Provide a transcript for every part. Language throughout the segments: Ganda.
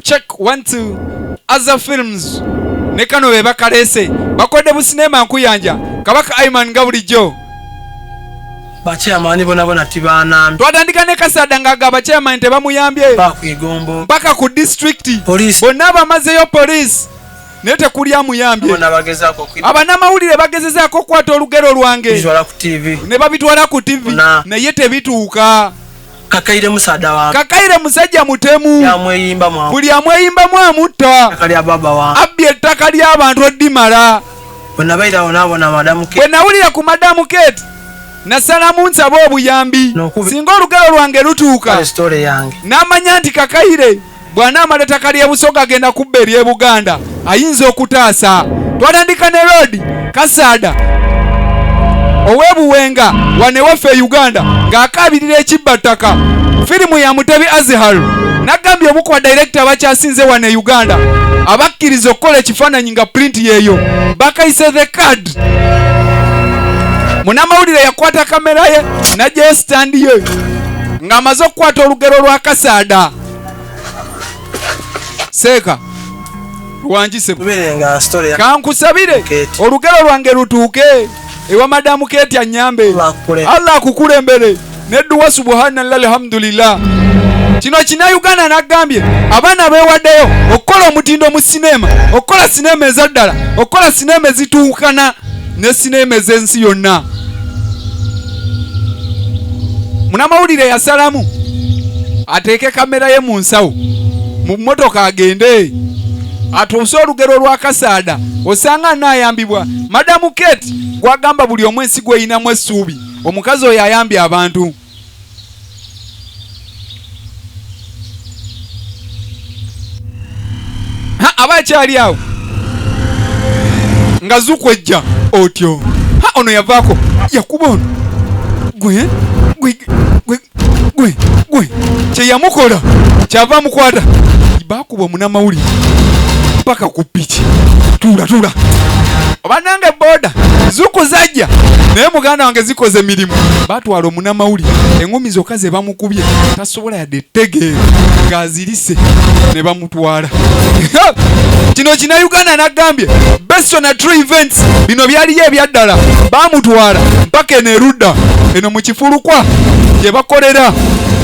check one two aza films ne kano be bakalese bakodde bu sinema nkuyanja kabaka aiman nga bulijjo bakyamani bonabona tibanambi twatandika ne kasada nga ga bakyamani tebamuyambye bakwigombo mpaka ku disitulikiti bonna abamazeyo poliisi naye tekuli amuyambye abanamawulire bagezezaako okukwata olugero lwange ne babitwala ku tivi naye tebituuka kakaire musada wa kakaire musajja mutemu yamweyimba mwa buli amweyimba mwa mutta kali ababa wa abbi ettaka lya abantu oddimala bona baira ona bona madamu ke bona ulira ku madamu ket nasala munsa bo obuyambi no, singa olugero lwange lutuuka story yange namanya nti kakaire bw'anaamala ettaka ly'e Busoga agenda kubba ery'e Buganda ayinza okutaasa. Twatandika ne road Kasaada ow'e Buwenga wano ewaffe e Uganda ng'akaabirira ekibba ttaka. Firimu ya Mutebi Azihar nagambye omu ku badirekita abakyasinze wano e Uganda abakkiriza okukola ekifaananyi nga pulinti yeeyo bakayise the card munamawulire yakwata kamera ye najjayo sitandi ye ng'amaze okukwata olugero lwa kasaada seeka kankusabire olugero lwange lutuuke ewa madamu keti anyambe allah akukulembere nedduwa subhanallah alhamdulillah kino kinauganda nagambye abaana bewaddeyo okukola omutindo mu sineema okukola sineema ezaddala okukola sineema ezituukana ne sineema ez'ensi yonna munamawulire yasalamu ateeke kamera ye mu nsawo mu mmotoka agende atuuse olugero lwa kasaada osanga anaayambibwa madamu kate gwagamba buli omu ensi gweyinamu essuubi omukazi oyo ayambye abantu aba akyali awo nga zukwejja otyo ha ono yavaako yakuba ono gwe gwe gwe gwe gwe kyeyamukola kyava mukwata kubwa munamawulire mpaka ku piki tuula tuula obanange boda zukuzajja naye muganda wange zikoze emirimu batwala omunamawuli eŋumi zokka ze bamukubye tasobola yadde etegeera ng'azirise ne bamutwala kino kina uganda nagambye besona true events bino byaliyo ebyaddala bamutwala mpaka eno erudda eno mu kifulukwa gye bakolera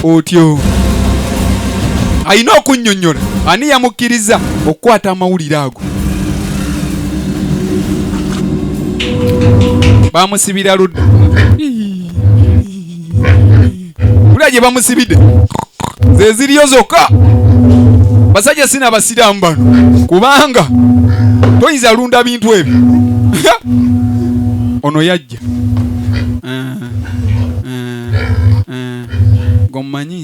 otyo alina okunnyonnyola ani yamukkiriza okukwata amawulire ago bamusibira ludda kulya gye bamusibidde zeziriyo zokka basajja sina abasiraamu bano kubanga toyinza lunda bintu ebyo ono yajja eh, eh, eh, gomumanyi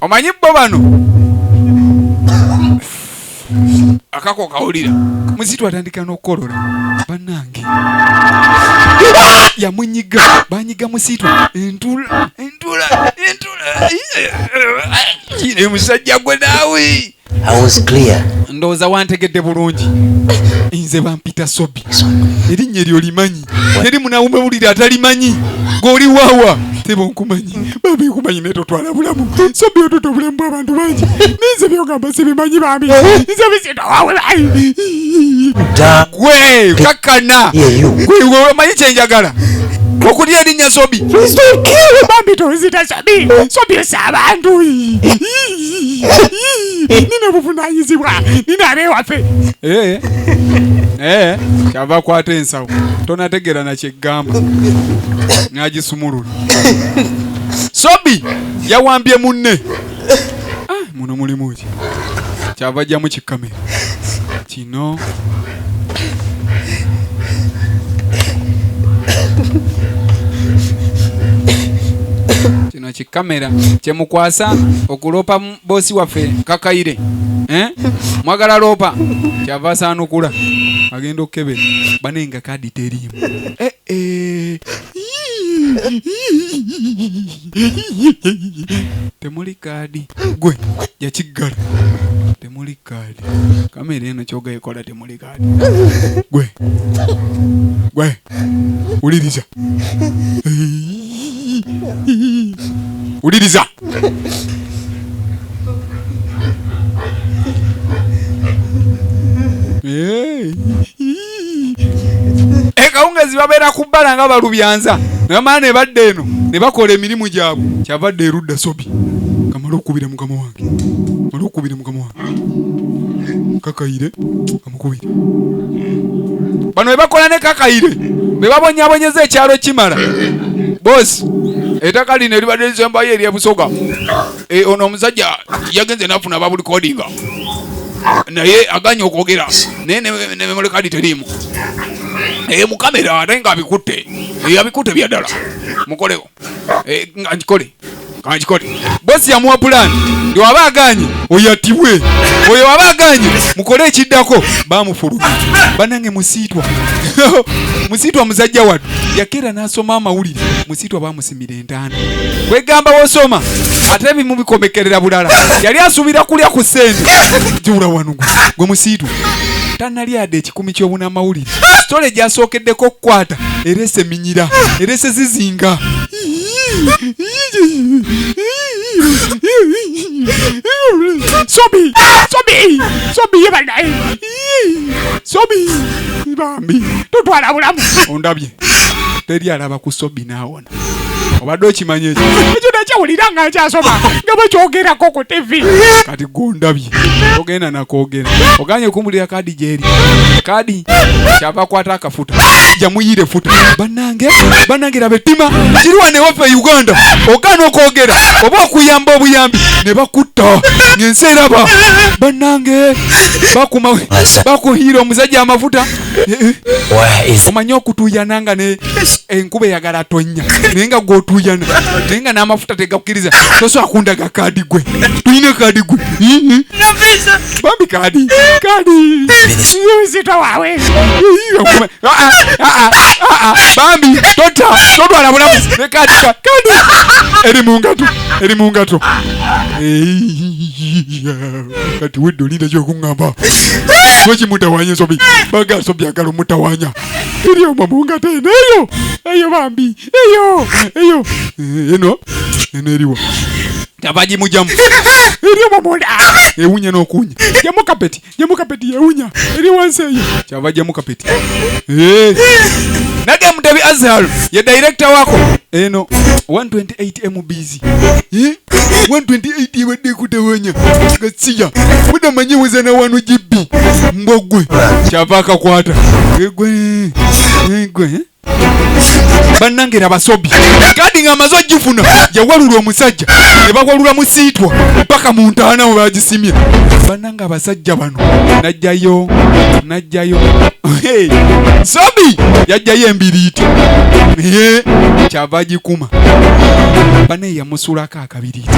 omanyi bo bano akako kawulira muzitu atandika n'okukolora banange yamunyiga banyiga musitu entula entula entula musajja gwe naawe ndowooza wantegedde bulungi nze bampita sobi erinnya eryo limanyi teri munawume bulire atalimanyi gweoli wawa teba onkumanyi bambi nkumanyi naye totwala bulamu sobi otuta obulamu bwabantu bangi ninze byogamba sibimanyi bambi nze bisitowawulayi gwe kakana gwewemanyi kyenjagala okulya erinnya sobi bambi tozita sobi sobi esa abantu nina obuvunanyizibwa nina abewaffe Eh, eh, kyava akwata ensawo tonategeera nakyegamba nagisumulula sobi yawambye munne Ah, muno mulimu ki kyava ajjamu kikamera Tino. kino kikamera kyemukwasa okuloopa boosi waffe kakayire eh? mwagala loopa kyava asaanukula agenda okukebera banenga kadi teriimu eh? temuli kaadi gwe yakiggala temuli kaadi kamera eno kyoga ekola temuli kaadi gwe gwe wuliriza wuliriza Hey. ekawungezi babeera ku bbala nga balubyanza namala ne badda eno ne bakola emirimu gyabwe kyava dda erudda sobi kamale okukubira mukama wange male okukubira mukama wange kakayire amukubire bano be bakola ne kakayire be babonyabonyeza ekyalo kimala boosi etaka lino eribadde lisembayo eryebusoga eh, ono omusajja yagenze nafuna babuli kodinga naye aganye okwogera naye nememole kadi teriimu eh, mukamera ate nga abikutte eh, abikutte byaddala mukoleo nga nkikole kankikole bosi yamuwa pulani ndi waba aganye oyatibwe oyo waba aganye mukole ekiddako bamufulumi banange musiitwa musiitwa musajja watu yakeera n'asoma amawulire musiitwa bamusimire entaana kwegamba wosoma ate bimu bikomekerera bulala yali asuubira kulya ku sente jiwula wano gwe musiitu tanalyada ekikumi ky'obunamawulire sitole egyasookeddeko okukwata era eseminyira era esezizinga sobi sobi sobi yebanaye sobi bambi totwala bulamu ondabye teri alaba ku sobi naawona obadde okimanya ekyo ekyo nakyawulira nga nkyasoma nga bakyogerako ku tv kati gondabye ogenda nakogera oganye kumbulira kadi gyeri kadi kyava kwata akafuta jamuyire futa banange banange rabe tima kiriwa newaffe e uganda ogana okwogera oba okuyamba obuyambi ne bakutta ngensi eraba banange bakuhiira omusajja amafuta omanyi okutuyana nga ne enkuba eyagala tonnya naye nga gwotuyana naye nga n'amafuta tegakkiriza soso akundaga kaadi gwe tuyina kaadi gwe bambi kaadi kaadi yuzita wawe bambi tota totwala bulamu ne kaadi kaadi eri mu ngato eri mu ngato kati wedde olinda kyokuŋŋamba lwaki mutawanya ensobi baga nsobi agala omutawanya tuli omo mu ngata eno eyo eyo bambi eyo eyo eh, eno eno eriwa tabagimujamu eri omo munda ewunya n'okuwunya jamu kapeti jamu kapeti yewunya eri wansi eyo kyava jamu kapeti Eh. nage mutabi azhar ye dayirekita wako eno 128 mbs 128 Eh? 128 ebadde ekutawanya gasiya mudamanyi wezana wano gibbi mbogwe kyava akakwata egwe egwe bannange era basobi kaadi ng'amaze ogifuna yawalula omusajja ne bawalula musiitwa mpaka mu ntaana we bagisimye Banna- nga abasajja bano najjayo najjayo sobi yajjayo embiriiti naye kyava agikuma bane yamusulako akabiriiti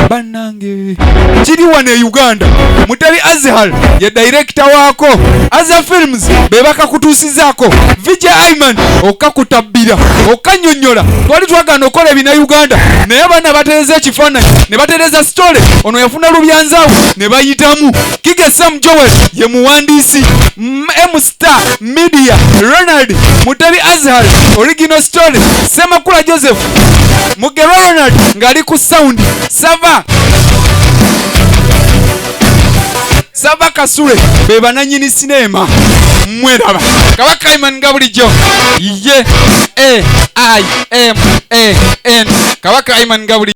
bannange kiri wano e uganda mutali azhar ye dayirekita waako azha films bebakakutusi okukakasizaako vj iman okukakutabbira okukanyonyola twali twagana okukola ebina uganda naye abaana batereza ekifaananyi ne batereza sitole ono yafuna lubyanzaawo ne bayitamu kige sam joel ye muwandiisi mstar media ronald mutebi azhar original story semakula joseph mugerwa ronald ng'ali ku sound sava sava kasule be bananyini sineema mweraba kabaka iman nga bulijjo ye a i m a n kabaka iman nga bulijjo